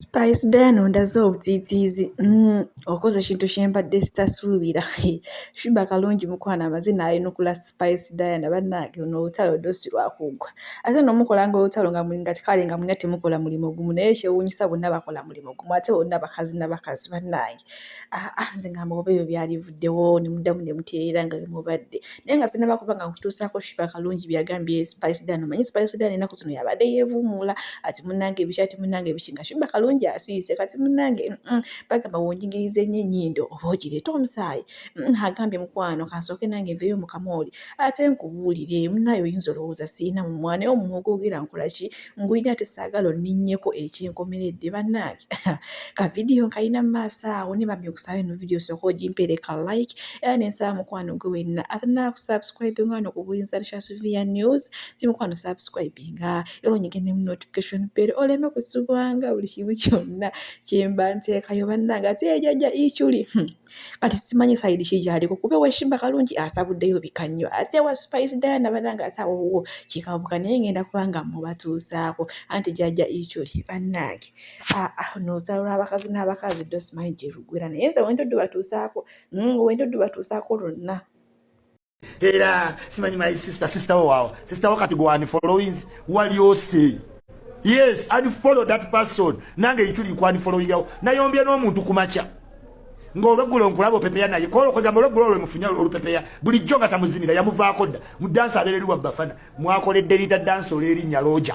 Spice Diana ondaze obutiitiizi mm, okoze ekintu kyembadde sitasuubira Shuba kalungi mukwano amaze nayenukula Spice Diana bannange ono olutalo ddo si lwakuggwa ate no mukolanga olutalo nga nga kale nga mulina temukola mulimu gumu naye kyewuunyisa bonna bakola mulimu gumu ate bonna bakazi na bakazi bannange ah, ah, nze ngamba oba ebyo byalivuddewo ne muddamu ne mutereera nga we mubadde naye nga sinaba kuba nga nkutuusaako shiba kalungi byagambye spaisedan omanyi spaisedan enaku zino yabadde yevuumuula ati munange ebiki ati munange ebiki nga shiba kalungi asiise kati munange bagamba wonjingiriza ennyo ennyindo oba ogireeta omusaayi Mm, agambye mukwano kansooke nange nveeyo mukamooli ate nkubuulire munaye oyinza olowooza sirina mumwa naye omumwa ogwogera nkolaki ngulina ate saagala oninnyeko ekyenkomeredde bannange kavidiyo nkalina mu maaso awo ne bambi okusaba eno vidiyo sooka ogimpeereka like era nensaba mukwano gwe wenna atanaakusubscribe nga wano ku buyinza lishasuvia news si mukwano subscribe nga era onyigende mu notification bere oleme kusubwanga buli kimu kyonna kyemba nteekayo bannange ate ejajja ichuli hmm. kati simanyi sayidi ki gyaliko kuba ewekimba kalungi asabuddeyo bika nnyo ate ewa supayisi dayana banange ate awowo kikabuka naye ngenda kubanga mubatuusaako anti jajja ikyoli bannange aa ah, nolutalo lw'abakazi n'abakazi ddo simanyi gye lugwera naye nze wendoddu batuusaako mm, wendoddu batuusaako lwonna era simanyi my sister sister wo wawo sister wo kati gwani followings wali ose yes and follow that person nange yituli kwani following yawo nayombye n'omuntu kumacha ng'olweggulo nkulaba opepeya naye kwolokogamba olweggulo olwe mufunya olupepeya bulijjo nga tamuzinira yamuvaako dda mu dansi abeereri wa bafana mwakoledde lida dansi olwerinnya looja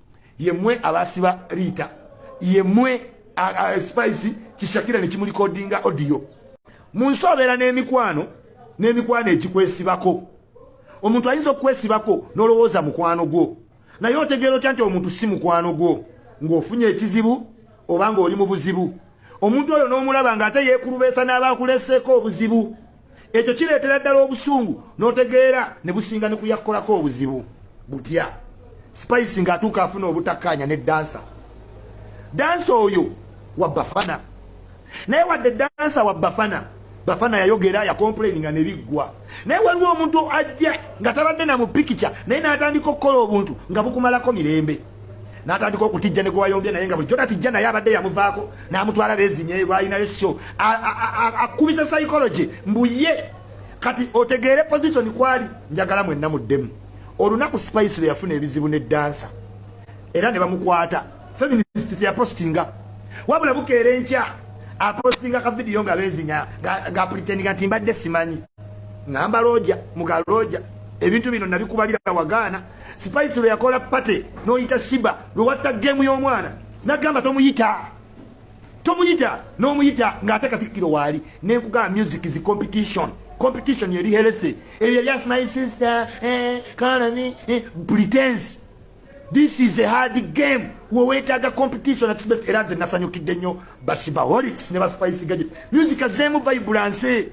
yemwe abasiba liita yemwe spice kishakira nekimulikodinga odiyo munsi obeera n'emikwano n'emikwano egikwesibako omuntu ayinza okukwesibako n'olowooza mukwano gwo naye otegeera otya nti omuntu si mukwano gwo ng'ofunye ekizibu oba ng'oli mu buzibu omuntu oyo n'omulaba ng'ate yeekulubeesa n'abaakuleseeko obuzibu ekyo kireetera ddala obusungu n'otegeera ne businga ne kuyakkolako obuzibu butya spice ng'atuuka afuna obutakkaanya ne dansa dansa oyo wa bafana naye wadde dansa wa bafana bafana yayogera yakomplaininga ne biggwa naye waliwo omuntu ajja nga tabadde na mu pikica naye n'atandika okukola obuntu nga bukumalako mirembe natandika okutijja ne gwewayombye naye nga bulijjo tatijja naye abadde yamuvaako namutwala bezinye lwalinayo syo akubisa psychology mbuye kati otegeere position kwali njagala mwenna muddemu olunaku spice lwe yafuna ebizibu ne dansa era ne bamukwata feminist teyapostinga wabula bukeera enkya apostinga ka vidiyo nga bezinya ngaapulitinga nti mbadde simanyi ngamba looja muga looja ebintu bino nabikubalira wagaana Spice lwe yakola party noyita Shiba lwe watta game y'omwana nagamba tomuyita tomuyita n'omuyita ng'ate katikkiro waali ne nkugamba music zi competition competition yeri healthy ebyo just my sister eh, kalani eh, pretense this is a hard game wewetaaga competition at best era nze nasanyukidde nnyo bashibaholics ne baspice gadget music azeemu vibulanse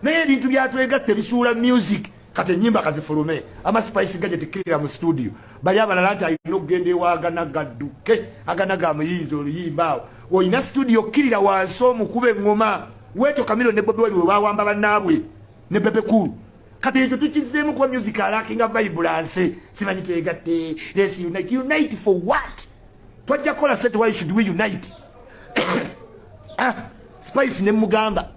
naye ebintu byatwegatta ebisuula music kati enyimba kazifulume ama spice gadget killer mu studio bali abalala nti alina okugenda ewagana gadduke agana ga muyiizi oluyimba awo olina studio killer wansi omukuba eŋŋoma weeto kamiro ne bobi wali webawamba bannaabwe ne bebe cool kati ekyo tukizzeemu kuba music alakinga vibulanse simanyi twegatte lesi unite unite for what twajja kola set why should we unite ah spice ne mugamba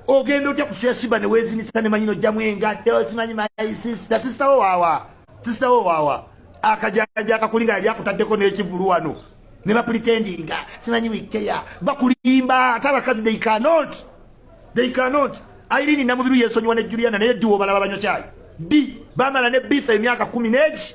ogenda otya kusuya shiba ne wezinisa ne manyino jamu engatto simanyi my sister sister wo wawa sister wo wawa akajaja akakulinga yali akutaddeko n'ekivulu wano ne bapretendinga simanyi wikeya bakulimba ate abakazi they cannot they cannot airini namubiru yesonyiwa ne juliana naye diwo balaba banyo kyayi di bamala ne bitha emyaka kumi negi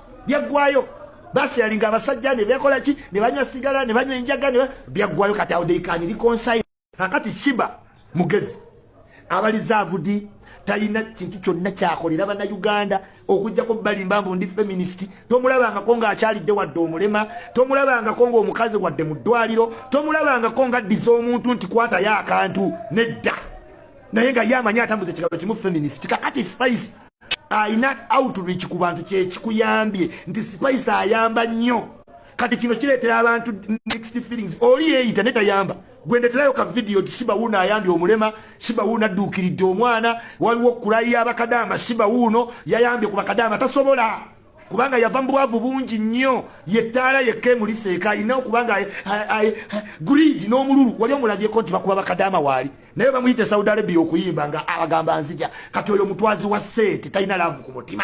byaggwayo basyalinga abasajja ne bekola ki ne banywa sigala ne banywa enjaga ne byaggwayo kati awo deikaani likonsayi kakati shiba mugezi abalizaavudi talina kintu kyonna kyakolera bana uganda okujjako balimba mbu ndi feminist tomulabangako ng'akyalidde wadde omulema tomulabangako ng'omukazi wadde mu ddwaliro tomulabangako ng'addiza omuntu nti kwatayo akantu nedda naye nga ye amanyi atambuza ekigalo kimu feminist kakati spice alina outreach ku bantu kyekikuyambye nti spice ayamba nnyo kati kino kireetera abantu next feelings oli yeeyita ne tayamba gwendeterayo ka vidiyo ti siba wuuno ayambye omulema siba wuuno adduukiridde omwana waliwo okulayi yabakadaama siba wuuno yayambye ku bakadaama tasobola kubanga yava mu bwavu bungi nnyo yettaala yekka emuliseeka alina okubanga grid n'omululu wali omulabyeko nti bakuba bakadaama waali naye bamuyita esaudi arabia okuyimba nga abagamba nzija kati oyo mutwazi wa sente talina laavu ku mutima